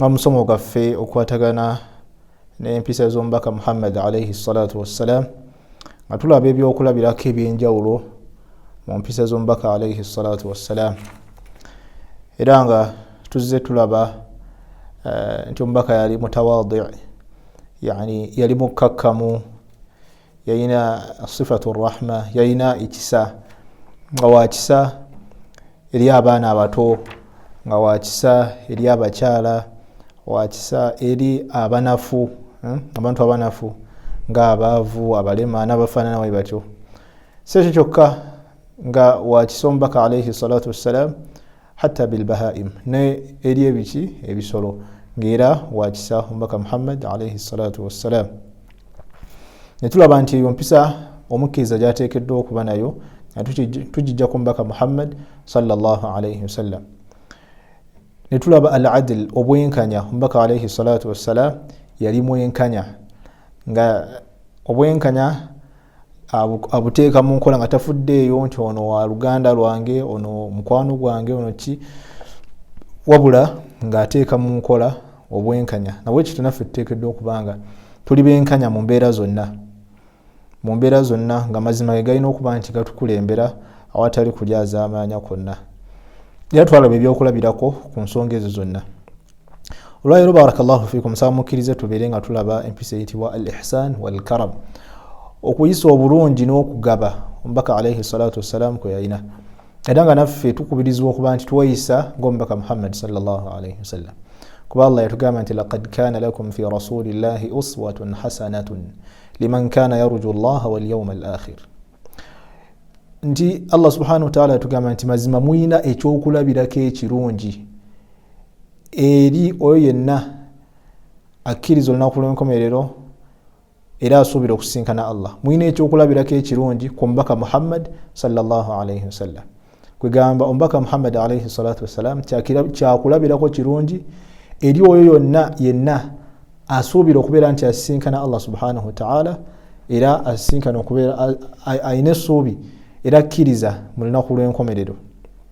omusomo gwaffe okwatagana n'empisa z'omubaka muhammad alaihi salatu wassalam nga tulaba ebyokulabirako ebyenjawulo mu mpisa z'omubaka alaihi salatu wassalam era nga tuzze tulaba eh, nti omubaka yali mutawadi yani yali mukkakkamu yalina sifatu rahma yalina ekisa nga wakisa eri abaana abato nga wakisa eri abakyala wakisa eri abanafu hmm? abantu abanafu nga abaavu abalema nabafaanana wali batyo si ekyo kyokka nga wakisa omubaka alaihi salatu wassalam hatta bilbahaim ne eri ebiki ebisolo ngaera wakisa omubaka muhammad alaihi salatu wassalam netulaba nti eyo mpisa omukkiriza gyateekeddwa okuba nayo tugijja ku mubaka muhammad salllahalaihi wasallam netulaba al adil obwenkanya omubaka alaihi salatu wassalam yali mwenkanya nga obwenkanya abuteeka mu nkola nga tafuddeeyo nti ono wa luganda lwange ono mukwano gwange ono ki wabula ng'ateeka mu nkola obwenkanya nabwe kityo naffe tuteekeddwa okubanga tuli benkanya mu mbeera zonna mu mbeera zonna nga mazima ge galina okuba nti gatukulembera awatali kulyazaamaanya kwonna era twalaba ebyokulabirako ku nsonga ezo zonna olwaleero barakallahu fikum nsaba mukkirize tubeere nga tulaba empisa eyitibwa al ihsan walkaram okuyisa obulungi n'okugaba omubaka alaihi salatu wassalamu kwe yalina era nga naffe tukubirizibwa okuba nti tweyisa ngaomubaka muhammadi salllahu alaihi wasallam kuba allah yatugamba nti lakad kana lakum fi rasulillahi uswatun hasanatun liman kana yarju llaha walyauma al akhir nti allah subhanahu wataala yatugamba nti mazima mulina ekyokulabirako ekirungi eri oyo yenna akkiriza olunaku lw'enkomerero era asuubira okusinkana allah mulina ekyokulabirako ekirungi ku mubaka muhammad salllahalaihi wasallam kwegamba omubaka muhammad alaihi salatu wassalam kyakulabirako kirungi eri oyo yonna yenna asuubira okubeera nti asisinkana allah subhanahu wataala era asisinkana okubeera alina essuubi era akkiriza mu lunaku lw'enkomerero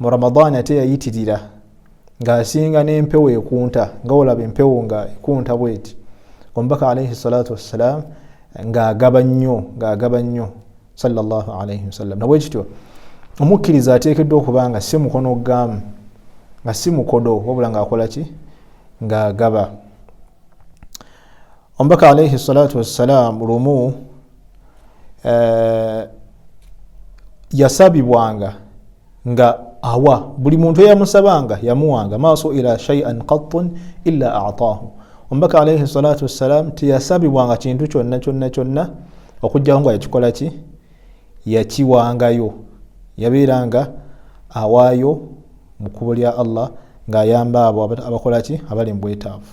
mu ramadaani ate yayitirira ng'asinga n'empewo ekunta nga olaba empewo nga ekunta bweti omubaka alaihi salatu wassalaamu ng'agaba nnyo ng'agaba nnyo salllah alaihi wasallam nabwe kityo omukkiriza ateekeddwa okuba nga si mukono gamu nga si mukodo wabula ng'akola ki ng'agaba omubaka alaihi salatu wassalaamu lumu eh, yasabibwanga nga awa buli muntu eyamusabanga yamuwanga maaso ila shaian qattun illa ataahu omubaka alaihi salatu wassalam teyasabibwanga kintu kyonna kyonna kyonna okujjako nga yakikola ki yakiwangayo yabeeranga awaayo mu kkubo lya allah ng'ayamba abo abakolaki abali mu bwetaavu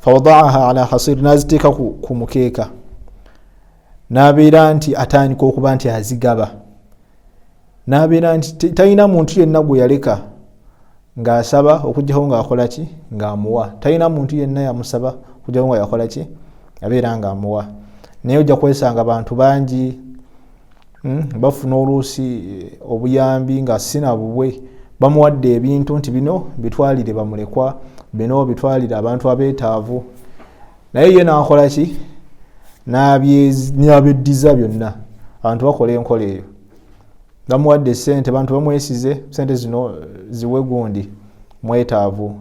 fawadaaha ala hasir naziteeka ku mukeeka nabeera nti atandika okuba nti azigaba nabeera nti talina muntu yenna gwe yaleka ngaasaba okujjako ngaakolaki ngaamuwa talina muntu yenna yamusaba okujjako nga yakolaki abeera ngaamuwa naye ojja kwesanga bantu bangi hmm, bafuna oluusi eh, obuyambi nga sina bubwe bamuwadde ebintu nti bino bitwalire bamulekwa bino bitwalire abantu abeetaavu naye ye nakola ki nabyeddiza byonna abantu bakola enkola eyo bamuwadde sente bantu bamwesize sente zino eh, ziwe gundi mwetaavu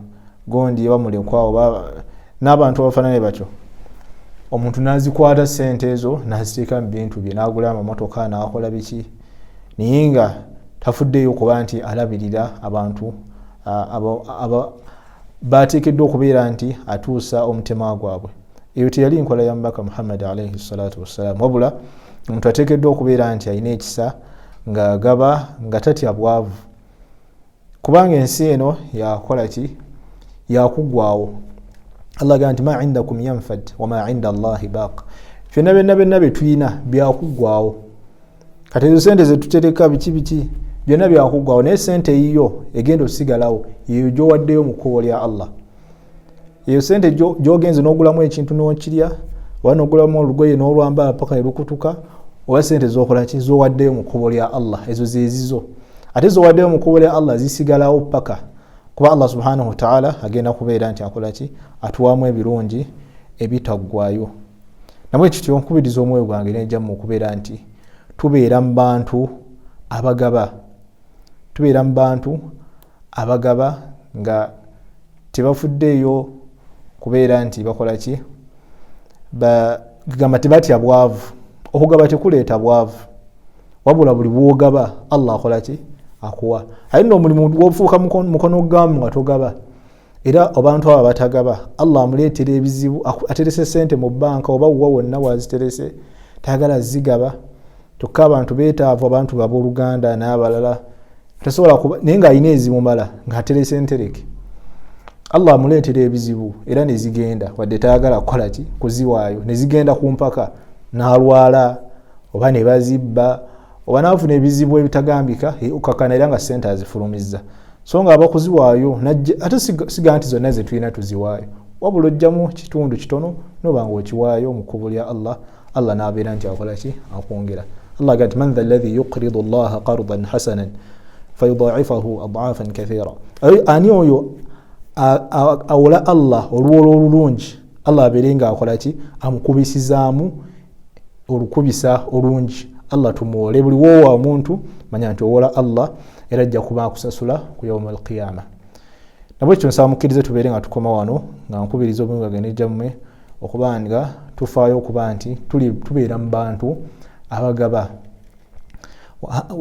gondi oba mulekwa oba n'abantu abafaanane batyo omuntu n'azikwata ssente ezo n'aziteeka mu bintu bye n'agula amamotoka n'akola biki naye nga tafuddeeyo kuba nti alabirira abantu baateekeddwa okubeera nti atuusa omutima gwabwe eyo teyali nkola ya mubaka muhammadi alaihi salatu wassalaamu wabula omuntu ateekeddwa okubeera nti alina ekisa ng'agaba nga tatya bwavu kubanga ensi eno yakola ki yakuggwawo allah agamba nti ma indakum yanfad wama inda allahi baq byonna byonna byonna byetulina byakuggwawo kati ezo sente zetutereka biki biki byonna byakuggwawo naye sente eyiyo egenda osigalawo yeyo gyowaddeyo mu kkubo lya allah eyo sente gyogenze nogulamu ekintu nokirya oba nogulamu olugoye nolwambala paka nelukutuka oba sente zokolaki zowaddeyo mu kkubo lya allah ezo zezizo ate zowaddeyo mu kkubo lya allah zisigalawo paka kuba allah subhanahu wataala agenda kubeera nti akolaki atuwamu ebirungi ebitaggwayo namwe kityo nkubiriza omwoyo gwange nejamu okubeera nti tubeera mu bantu abagaba tubeera mu bantu abagaba nga tebafuddeeyo kubeera nti bakola ki gamba tebatya bwavu okugaba tekuleeta bwavu wabula buli bwogaba allah akola ki akuwa aye no omulimu gwofuuka mukono gamu nga togaba era abantu abo abatagaba allah amuleetera ebizibu aterese sente mu banka oba wuwa wonna waziterese tayagala zigaba kyokka abantu betaavu abantu baboluganda n'abalala tasobola kuba naye ng'alina ezimumala ng'aterese ntereke allah amuleetera ebizibu era nezigenda wadde tayagala kukola ki kuziwaayo nezigenda ku mpaka n'alwala oba ne bazibba oba naafuna ebizibu ebitagambika okakana era nga sente azifulumizza so nga abakuziwaayo najje ate siga nti zonna zetulina tuziwaayo wabula ojjamu kitundu kitono noba nga okiwaayo mu kkubo lya allah allah naabeera nti akola ki akwongera allah aga nti man tha llahi yuqridu llaha qardan hasanan fayudaifahu adaafan kathira ani oyo awola allah olwola olulungi allah abeere nga akola ki amukubisizaamu olukubisa olungi allah tumuwole buli woowa omuntu manya nti owola allah era ajja kuba akusasula ku yauma alqiyama nabwe ekyo nsaba mukkirize tubeere nga tukoma wano nga nkubiriza obungi bagende gyammwe okuba nga tufaayo okuba nti tubeera mu bantu abagaba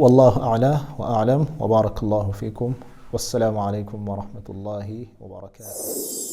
wallahu ala wa alam wabaraka llahu fikum wassalamu alaikum warahmatullahi wabarakatuh